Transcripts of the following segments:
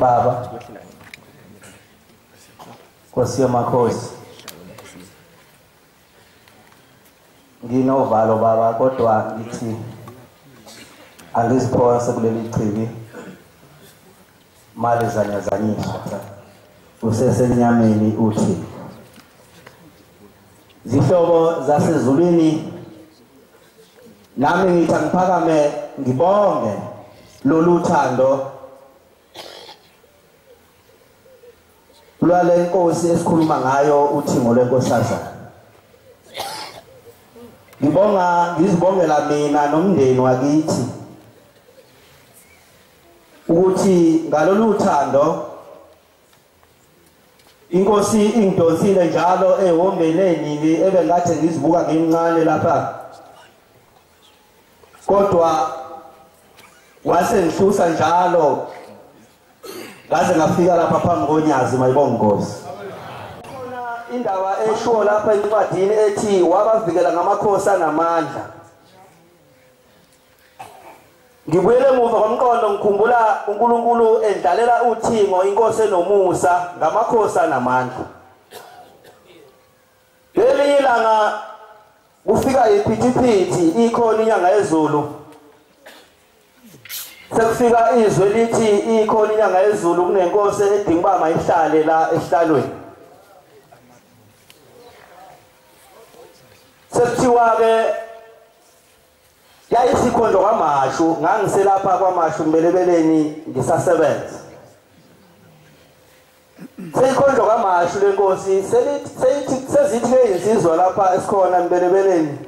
Baba Nkosi yamakhosi Nginovalo baba kodwa ngithi angiziphonse kuleli chibi mali zanyazanyiswa usesenyameni uthi zihlobo zasezulwini nami ngithi angiphakame ngibonge lolu thando lwale nkosi esikhuluma ngayo uthingo lwenkosazana ngibonga ngizibongela mina nomndeni wakithi ukuthi ngalolu thando Inkosi ingidonsile njalo ehombeni enini ebengathi ngizibuka ngimncane lapha. Kodwa wase ngihlusa njalo ngaze ngafika lapha phambi konyazi mayibonga inkosi. Khona indaba eshiwo lapha encwadini ethi wabavikela ngamakhosi anamandla. Ngibuyele emuva ngomqondo ngikhumbula uNkulunkulu endlalela uthingo inkosi enomusa ngamakhosi anamandla. Leli ilanga kufika iphithiphithi ikhona inyanga yezulu. Sekufika izwe lithi ikhona inyanga yezulu kunenkosi edinga uba mayihlale la esihlalweni. Sekuthiwa-ke yayisikhonjwa kwamashu ngangiselapha kwamashu mbelebeleni ngisasebenza seyikhonjwa kwamashu lenkosi seyithi sezithi leyinsizwa lapha esikhona mbelebeleni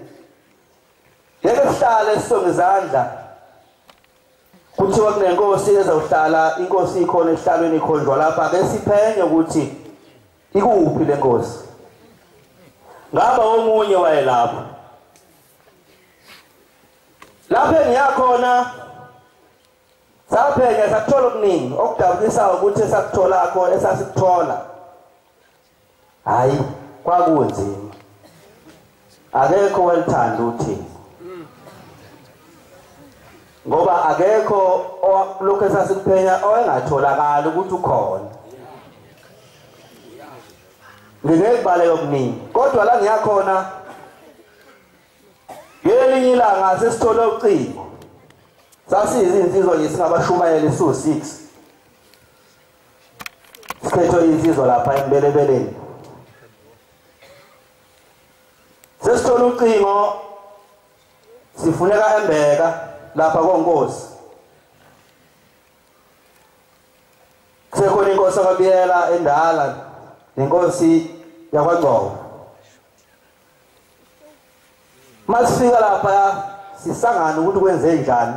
ngeke sihlale sisonge izandla kuthiwa kunenkosi ezawuhlala inkosi ikhona ehlalweni ikhonjwa lapha ke siphenye ukuthi ikuphi lenkosi ngaba omunye wayelapha lapho engiyakhona saphenya sakuthola okuningi okudabukisayo ukuthi esakutholakho esasikuthola hayi kwakunzima akekho welithanda uthini ngoba akekho lokho esasikuphenya owengatholakali ukuthi ukhona ngingeke kubaleke okuningi kodwa la ngiyakhona ngelinye ilanga sesithole ucingo sasiyizinsizwa nje singabashumayeli siwu-6 siphethwe insizwa lapha embelebeleni sesithole ucingo sifuneka embeka lapha konkosi kusekhona inkosi akabiyela endala nenkosi yakwagcobo masifika lapha sisangana ukuthi kwenze njani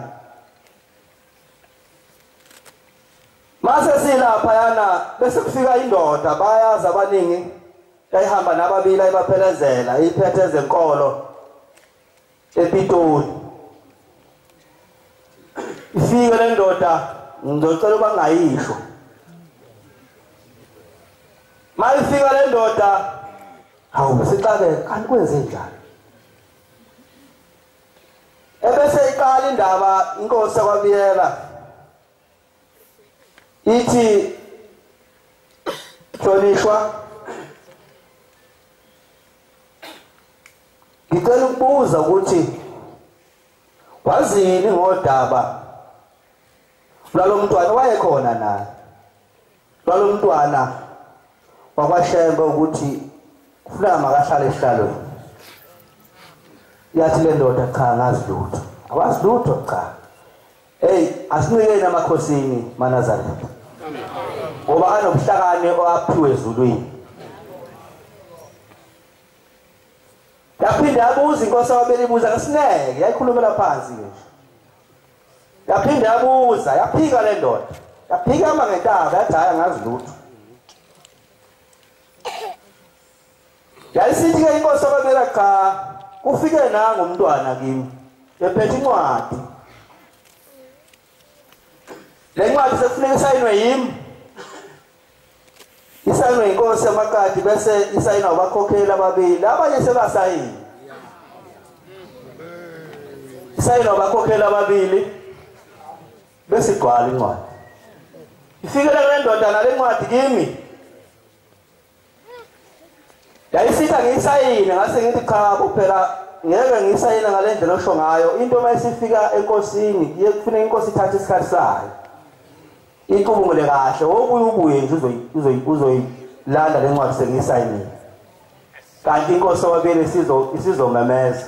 mase silapha yana bese kufika indoda bayazi abaningi yayihamba nababili ayibaphelezela iphethe ezenkolo ePitoli ifike le ndoda ngizocela uba ngayisho mayifika le ndoda hawu sixake kanti kwenze njani ebese iqala indaba inkosi yakwabiyela ithi hlonishwa ngicela ukubuza ukuthi wazini ngodaba lwalomntwana wayekhona na lwalomntwana wakwashembe ukuthi kufuneka makahlale esihlalweni yathi le ndoda cha ngazi lutho awazi lutho cha Hey, asinikeni amakhosini maNazaretha. Ngoba anobuhlakani oaphiwe ezulwini. Yaphinde abuza inkosi wabeli buza kasineke, yayikhulumela phansi nje. Yaphinde abuza, yaphika le ndoda. Yaphika ama ngentaba, yathi hayi angazi lutho. Yayisithi ke inkosi ababeka cha kufike nangu umntwana kimi ephethe incwadi. Le ncwadi sekufuneka isayinwe yimi. Isayinwe inkosi yamakati bese isayinwa abakhokheli ababili abanye sebasayini. Isayinwa abakhokheli ababili bese igcwala incwadi. Ifikele kule ndoda nale ncwadi kimi. yayisitha ngiyisayine ngase ngithi cha kuphela ngeke ngiyisayine ngale ndlela osho ngayo into uma isifika enkosini kuye kufuneka inkosi ithathe isikhathi sayo icubungule kahle wokuye ubuye nje uzoyilanda le ncwadi sengiyisayinile kanti inkosi owabili isizomemeza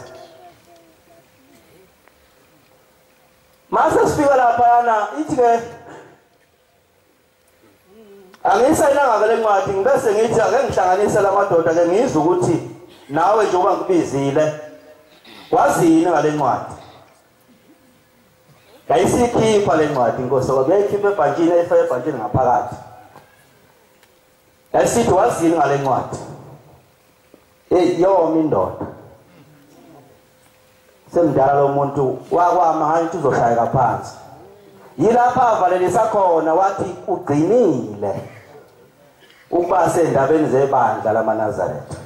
mase sifika laphayana ithi-ke Angisayinanga vele incwadi ngibese ngithi ake ngihlanganise lamadoda ke ngizwe ukuthi nawe nje uba ngibizile wazini ngale ncwadi ngayisikhipha le ncwadi inkosi ngoba yayikhipha ebhantshini eyifaka ebhantshini ngaphakathi Yayisithi wazini ngale ncwadi? Hey, yoma indoda. Semdala lo muntu wakwama hayi ukuthi uzoshayeka phansi. Yilapha avalelisa khona wathi ugcinile ukuba sendabeni zebandla lamaNazaretha.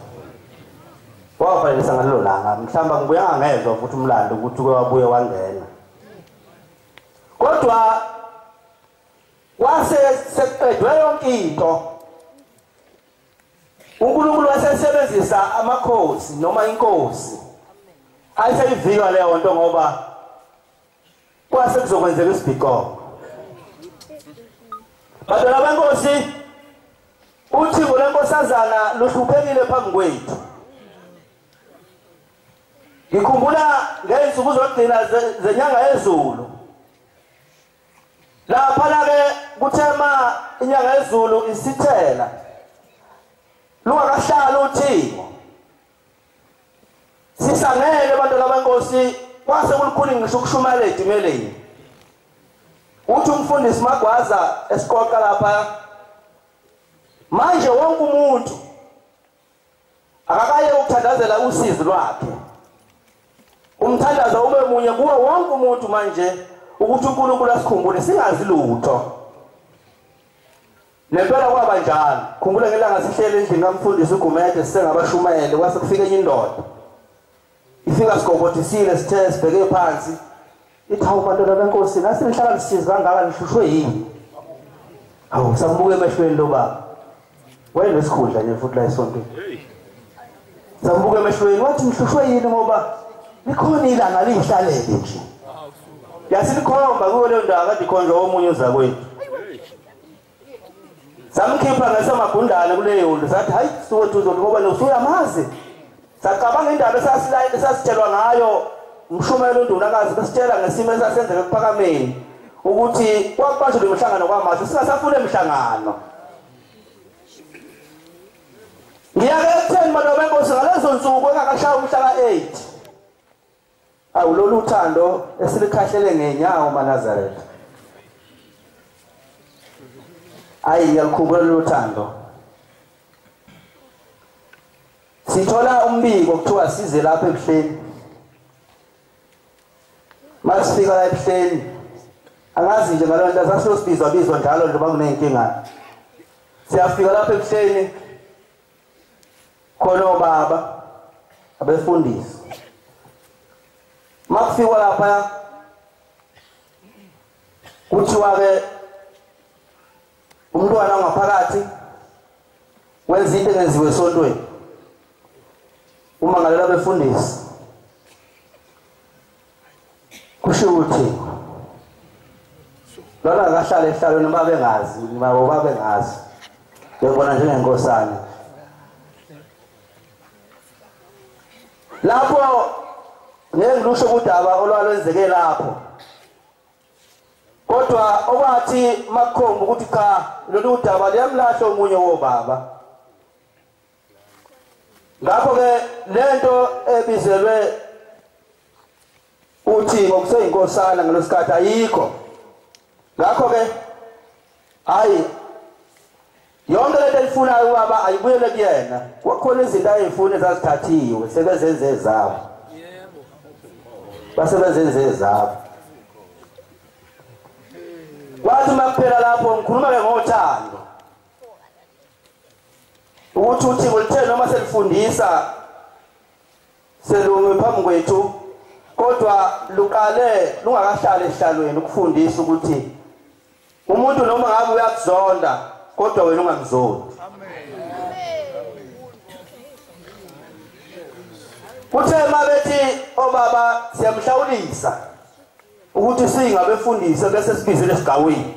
Wavalelisa ngalelo langa mhlamba ngibuya ngezwa futhi umlando ukuthi kwabuye wangena. Kodwa Kwase sekuqedwe yonke into. UNkulunkulu wasesebenzisa amakhosi noma inkosi. Ayiseyivikwa leyo nto ngoba kwase kuzokwenzeka isibhiqo. Badala benkosi uthi ngolenkosazana luhluphekile phambi kwethu. Ngikhumbula ngeyinsuku zokugcina zenyanga yezulu. Laphana-ke kuthe ma inyanga yezulu isithela lungakahlali uthingo sisangele abantu labenkosi kwase kulukhuni ngisho ukushumayela edimeleni uthi umfundisi magwaza esiqoqa lapha manje wonke umuntu akakaye ukuthandazela usizi lwakhe umthandazo ube munye kuwo wonke umuntu manje ukuthi uNkulunkulu asikhumbule singazi lutho nempela kwaba njalo khumbula ngelanga sihlele endlini kamfundisi uGumede sisengabashumayele kwase kufike enye indoda Isingasigobothisile sithe sibheke phansi. Ithi hawu madoda benkosi nasi nihlala nisize kangaka nihlushwe yini? Hawu sakubuke emehlweni lo baba. Wayenesikhundla nje futhi la esontweni. Sakubuke emehlweni wathi nihlushwe yini ngoba likhona ilanga lihlalele nje. Yasilikhomba kuyo leyo ndawo kade ikhonjwa omunye uzakwethu. samkhipha ngesamagundane kuleyo ndlu sathi hayi siwethu uzothi ngoba nosuyamazi sacabanga indaba esasilayini esasitshelwa ngayo umshumela undunakazi besitshela ngesimo esasenzeka kuphakameni ukuthi kwakubanjwa lemihlangano kwamanje singasafuna imihlangano ngiyake ekutheni maloba enkosi ngalezo nsuku engakashaya umhla ka-8 Awu lolu uthando esilikhahlele ngenyawo maNazaretha. Ayi ngiyakhumbula lolu uthando. Sithola umbiko kuthiwa size lapha ebuhleni. Masifika la ebuhleni angazi nje ngaloo nto sasiyosibizwa bizwa njalo njengoba kuney'nkinga siyafika lapha ebuhleni khona obaba abefundisi makufikwa lapha kuthiwa ke umntwana ngaphakathi wenza into engenziwe esontweni uma ngalela befundisi kusho ukuthi lona akahlala ehlalweni uma bengazi nabo babengazi bebona njengenkosana lapho ngeke ngilusho kudaba olwalwenzeke lapho kodwa okwathi makukhomba ukuthi cha lolu daba liyamlahla omunye wobaba ngakho ke lento ebizelwe uthi ngokuseyinkosana ngalosikhathi ayikho ngakho ke hayi yonke lento elifunayo ubaba ayibuyele kuyena kwakhona izinto ayeyifuna ezazithathiwe sebezenze ezabo basebezenze ezabo kwathi uma kuphela lapho ngikhuluma-ke ngothando ukuthi uthingo lithe noma selifundisa selumi phambi kwethu kodwa luqale lungakahlali ehlalweni ukufundisa ukuthi umuntu noma ngabe uyakuzonda kodwa wena ungamzondi kuthe uma bethi obaba siyamhlawulisa ukuthi singabefundisi bese sibizele esigawini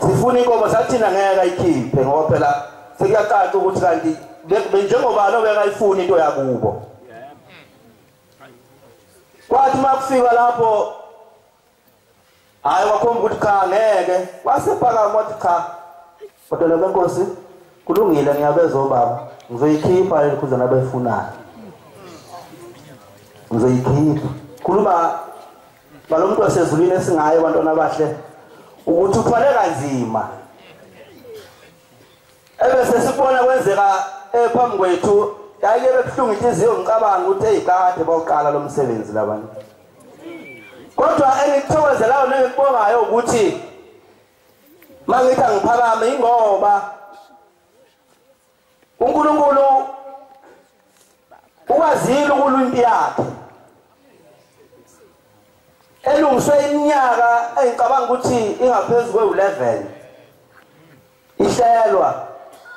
sifuna inkomo sathina ngeke ayikhiphe ngoba phela sekuyacaca ukuthi kanti njengoba lo bekayifuna into yakubo kwathi uma kufika lapho Hayi wakhomba ukuthi cha ngeke. Wasephakama wathi cha. Kodwa lo nkosi kulungile ngiyabeza obaba. Ngizoyikhipha le khuzana abayifunayo. Ngizoyikhipha. Khuluma balomuntu wasezulwini esingaye abantwana abahle ukuthi uthwale kanzima. ebese sibona kwenzeka eh, phambi kwethu yayike bebuhlungu inhliziyo ngicabanga ukuthi eyi kade bawuqala lo msebenzi labantu kodwa engikuthokozelayo nengikubongayo ukuthi uma ngithi angiphakame yingoba unkulunkulu ukwazile ukulwa impi yakhe elungiswe iminyaka engicabanga ukuthi ingaphezu kwe-11 ihlelwa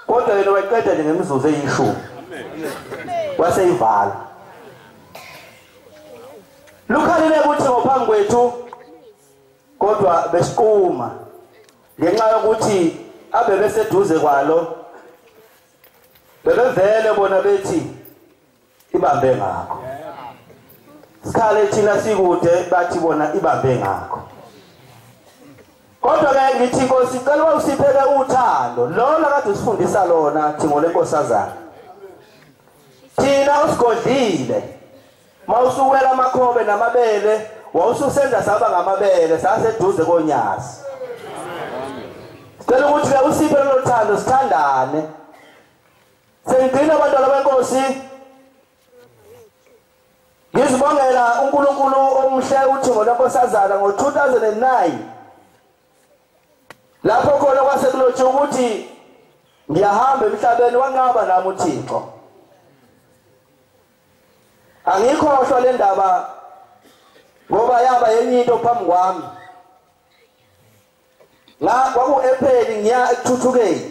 kodwa yena wayiqeda nje ngemizuzu eyishumi waseyivala lukhalile ukuthi ngophambi kwethu kodwa besiquma ngenxa yokuthi abe beseduze kwalo bebevele bona bethi ibambe ngakho sikhale thina sikude bathi bona ibambe ngakho kodwa ke ngithi inkosi icela uba usiphele uthando lona kade usifundisa lona thingo lenkosazana thina usigodlile ma usuwela amakhobe namabele wawususenza saba ngamabele saseduze konyazi sicela ukuthi-ke usiphe lolo thando sithandane Sengigcina abantwana benkosi. Ngizibongela uNkulunkulu omhle uthingo lwenkosazana ngo-2009 lapho khona kwase kulothi ukuthi ngiyahamba emhlabeni wanqaba nami uThixo angikhohlwa le ndaba ngoba yaba yenye into phambi kwami nga kwaku-epeni ngiya ekuthuthukeni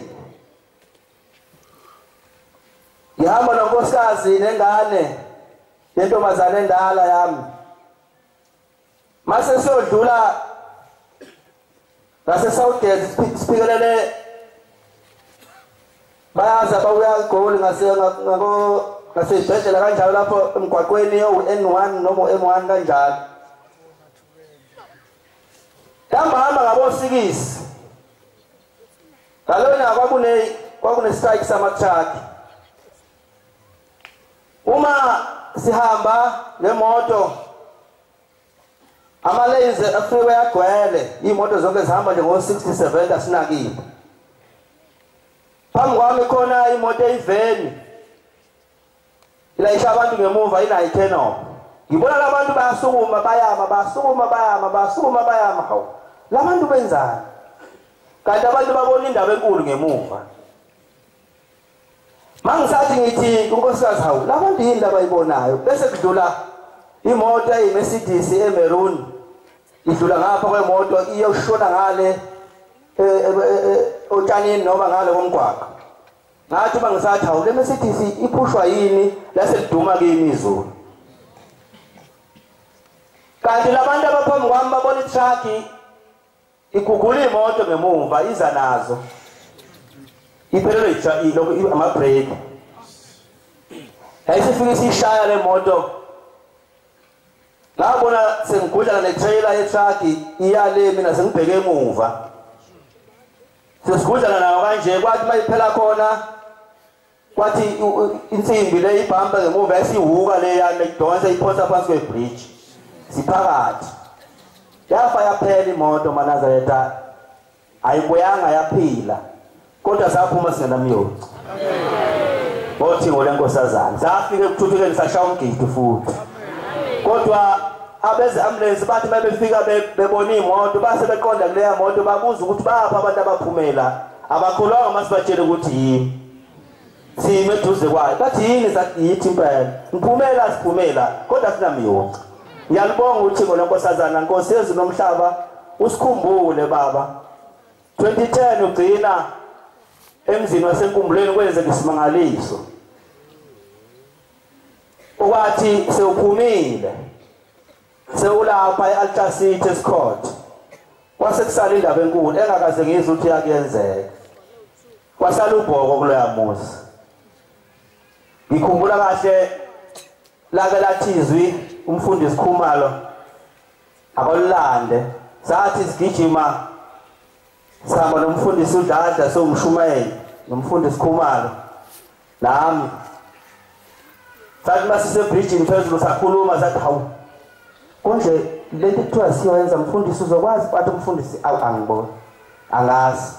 ngihamba nonkosikazi nengane nentombazane endala yami mase siyodlula ngasesouthgate siphikelele bayazi abakuya egoli ngaseyibhedlela kanjalo lapho emgwaqweni owu-n one noma u-m one kanjalo Hamba hamba ngabosikisi. Ngalona kwakune kwakune strike samathaki. Uma sihamba ngemoto ama-lanes afike agcwele iy'moto zonke zihamba nje ngo-sixty seventy asinakile phambi kwami khona imoto eyiveni Ilayisha abantu ngemuva ila eternal. Ngibona labantu bayasukuma bayama basukuma bayama basukuma bayama hawu. Labantu benzani? Kanti abantu babona indaba enkulu ngemuva. Mangisathi ngithi unkosikazi hawu labantu yini labayibonayo bese kudlula imoto eyiMercedes eMaroon idlula ngapha kwemoto iyoshona ngale eh, eh, eh, otshanini noma ngale komgwaqo ngathi uma ngisathi hawu le mercedes iphushwa yini lase liduma kimi izulu kanti labantu abaphambi kwami babona itrucki igugula imoto ngemumva iza nazo iphelelwe amabreki yayisifike siyishaya le moto ngabona sengigudlana netrailer yetrucki iyale mina sengibheke emuva sesigudlana nawo kanje kwathi uma iphela khona kwathi insimbi le ibhampa ngemuva yasiwuka le yami idonsa iphonsa phansi kwebridge siphakathi yafa yaphela imoto manazareta ayibuyanga yaphila kodwa saphuma singenamyonci Bothi ngole nkosazana. Safike ekuthuthukeni sashaya umgidi futhi. Kodwa abeze ambulance bathi mabefika bebona imoto base beqonda kuleya moto babuza ukuthi bapha abantu abaphumela abakholwanga masibatshele ukuthi yini sime eduze kwayo bathi yini yithi impela ngiphumela siphumela kodwa sinamiyonca ngiyalibonga uthixo lenkosazana nkosi yezulu nomhlaba usikhumbule baba 2010 ugcina emzini wasenkumbulweni kwenzeka isimangaliso okwathi sewuphumile sewulapha e-altar city esikhot kwase kusala indaba enkulu engakaze ngizwe ukuthi yakuyenzeka kwasala ubhoko kuloya muzi ngikhumbula kahle lake lathi izwi umfundisi khumalo abalulande sathi sigijima sihamba nomfundisi udladla siwumshumayeli nomfundisi khumalo nami sathi uma sisebrijini phezulu sakhuluma sathi hawu konje le nto kuthiwa siyoyenza mfundisi uzokwazi bathi umfundisi awu angiboni angazi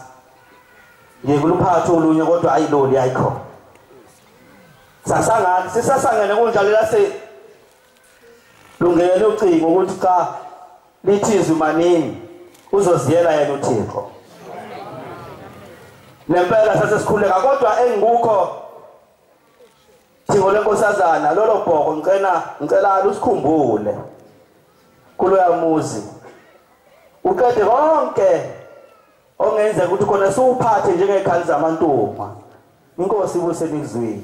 ngikuluphatha olunye kodwa ayi loli ayikhona sasangani sisasangene kunjalo lase lungele ucingo ukuthi cha lithizwe manini uzoziyela yena uthixo nempela sasesikhuleka kodwa engikukho thixo lenkosazana lolo bhoko ngicela ngicela usikhumbule kuloya muzi uqede konke ongenzeka ukuthi khona siwuphathe njengekhali zamantunga inkosi ibuse nikuzwile